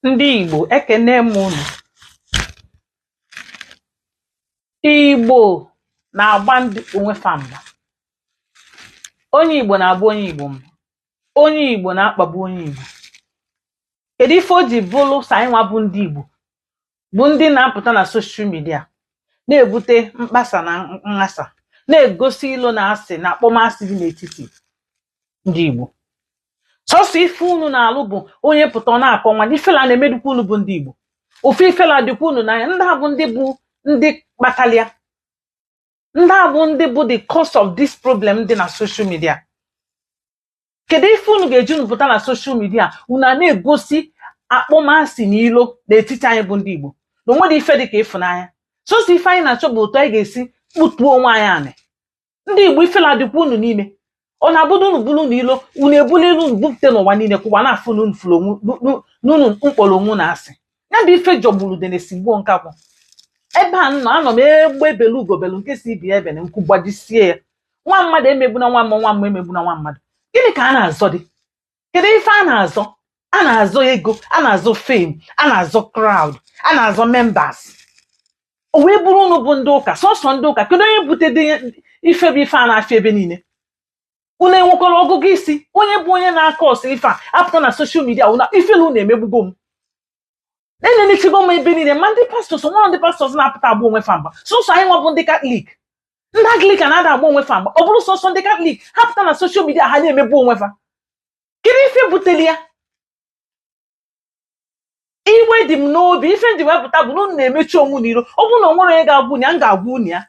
ndị Igbo ekene m unu Igbo na-agba ndị onwe fa mgba onye Igbo na-agba onye Igbo mgba onye Igbo na-akpagbu onye Igbo kedu ife o ji bụrụ sọ anyị nwa bụ ndị Igbo bụ ndị na-apụta na social media na-ebute mkpasa na nghasa na-egosi ilo na asị na akpọmasị dị n'etiti ndị Igbo sọsọ ife unu na-alụ bụ onye pụta ọ na-akọ nwanne ifela na-emedukwa unu bụ ndị Igbo ife ifela dịkwa unu n'anya ndị a bụ ndị bụ ndị kpatalị ya ndị a bụ ndị bụ the cause of this problem dị na social media kedu ife unu ga-eji unu pụta na social media unu a na-egosi akpọmasị na ilo n'etiti anyị bụ ndị Igbo na o nwedu ife dị ka ịfụnanya sọsọ ife anyị na-achọ bụ otu anyị ga-esi kpụtuo onwe anyị anị ndị Igbo ifela dịkwa unu n'ime ọ na-abụ na unu bulu unu ilo unu ebuli ilo unu bupụta n'ụwa niile ka ụwa na-afụ na unu fụrụ onwe nu- nu- na unu kpọlọ onwe unu asị ya bụ ife jọgburu udene sigbuo nkakwụ ebe m nọ anọ m egbe belu ugo belu nke sị ibe ya ebena nku gbajisie ya nwa mmadụ emegbuna nwa mmụọ nwa mmụọ emegbuna nwa mmadụ gịnị ka a na-azọ dị kedu ife a na-azọ a na-azọ ego a na-azọ fame a na-azọ crowd a na-azọ members o wee bụrụ unu bụ ndị ụka sọsọ ndị ụka kedu onye butedu ife bụ ife a na-afịa ebe niile unu enwekwarọ ọgụgụ isi onye bụ onye na-acause ife a apụta na social media na ifela unu emegbugo m na enenechago m ebe niile ma ndị pastors o nwerọ ndị pastors na-apụta agba onwe fa mgba sọsọ anyị nwa bụ ndị katọlik ndị Anglican ada agba onwe fa mgba ọ bụrụ sọsọ ndị katọlik ha pụta na social media ha na-emebọ onwe fa kedu ife buteli ya iwe dị m n'obi ife m ji wee pụta bụ na unu na-emechu onwe unu iru ọ bụrụ na o nwerọ onye ga-agwa unu ya m ga-agwa unu ya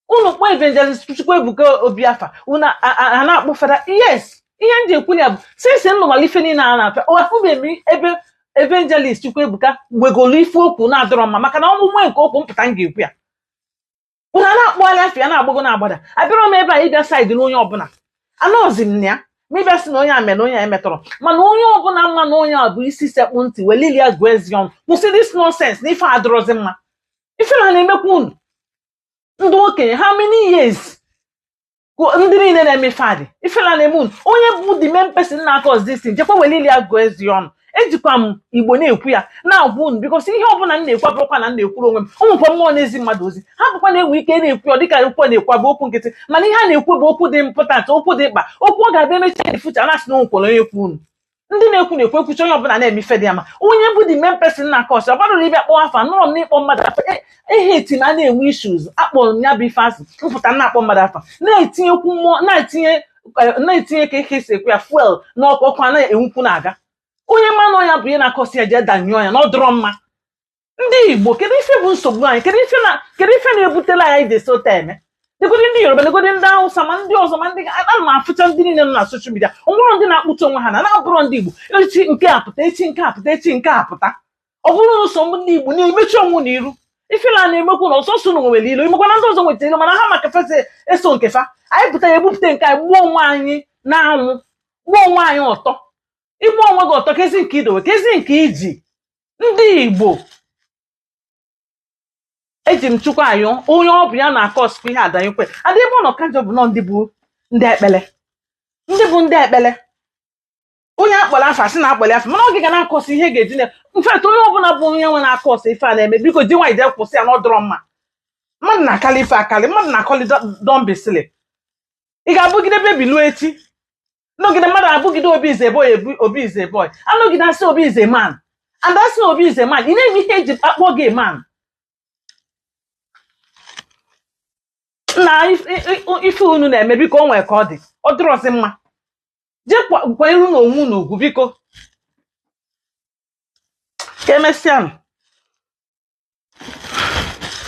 unu kpọọ evangelist Chukwuebuka Obi afa unu a- a- a na-akpọ fada yes ihe m ji ekwu ya bụ since m nụmara ife niile a na-apịa ụwa afụbeghị m ebe evangelist Chukwuebuka wegolu ife okwu na-adịrọ mma maka na ọmụmụ nke okwu m pụta m ga-ekwu ya unu a na-akpọgharị afa ya na-agbago na-agbada abịarọ m ebe a ịbịa side onye ọbụla anọzi m na ya ma ịbịa sị na onye a mere onye a emetọrọ mana onye ọbụla ma na ọ nya bụ isi sekpụ ntị welu ile ya gụọ eze ọnụ kwụsị this nonsense na ife adịrọzi mma ifela na-emekwa unu ndị okenye how many years ndị niile na-eme fada ifela na-eme unu onye bụ the main person na-acause this thing jekwa were ile ya gụọ eze ọnụ ejikwa m Igbo na-ekwu ya na-agwa unu because ihe ọbụla m na-ekwu abụrọkwa na m na-ekwuru onwe m ọ bụkwa mmụọ na-ezi mmadụ ozi hapụkwa na e nwe ike na-ekwu ya dịka okwu a na-ekwu bụ okwu nkịtị mana ihe a na-ekwu bụ okwu dị important okwu dị mkpa okwu ọ ga-abịa emechi ya efucha na-asị na o nwekwarọ onye kwu unu ndị na-ekwu na-ekwu ekwuchi onye ọbụla na-eme ife dị ya mma onye bụ the main person na-acause ọ barọ uru ịbịa kpọọ afa anọrọ m n'ịkpọ mmadụ afa E- ehe eti na a na-enwe issues akpọrọ m ya bụ ife asị mpụta na-akpọ mmadụ afa na-etinyekwu mmụọ na-etinye eh, na-etinye ka e si ekwu ya fuel n'ọkụ ọkụ a na-enwukwu na-aga onye ma na ọ ya bụ ihe na-acause ya jee danyụọ ya na ọ dịrọ mma ndị igbo kedu ife bụ nsogbu anyị kedu ife na kedu ife na-ebutelu anyị dị sota eme negodi ndị yoruba negodi ndị hausa ma ndị ọzọ ma ndị ana m afụcha ndị niile nọ na social media o nwerọ ndị na-akpụta onwe ha na na-abụrọ ndị igbo echi nke a pụta echi nke a pụta echi nke a pụta ọ bụrụ na sọ ndị igbo na-emechu onwe unu iru ifele a na-emekwa unu ọ sọsọ unu nwere ilo ị makwa na ndị ọzọ nwechara ilo mana ha ma ka fa si eso nke fa anyị pụta ya ebupụta nke anyị gbaa onwe anyị n'anwụ gbaa onwe anyị ọtọ ịgba onwe gị ọtọ kezi nke i dowe kezi nke i ji ndị igbo eji m chukwu ayọ onye ọ bụ ya na-acausekwa ihe adanyekwe adị ebe ọ nọ ka njọ bụ na ndị bụ ndị ekpele ndị bụ ndị ekpele onye a kpọrọ afa a sị na a kpọrọ afa mana oge ga na-acause ihe ga-eji in fact onye ọbụla bụ onye nwe na-acause ife a na-eme biko ji nwayọọ jee kwụsị ya na ọ dịrọ mma mmadụ na-akali ife akali mmadụ na-akali dọmbisili ị ga-abụgide baby luo echi nọgide mmadụ abụgide obi is a boy ebu- obi is a boy anọgide a sị obi is a man and a sị na obi is a man ị na-eme ihe e ji akpọ gị man na if- i- i- ife unu na-eme biko o nwere ka ọ dị ọ dịrọzi mma jee kwanyerenụ onwe unu ugwu biko ka emesịanụ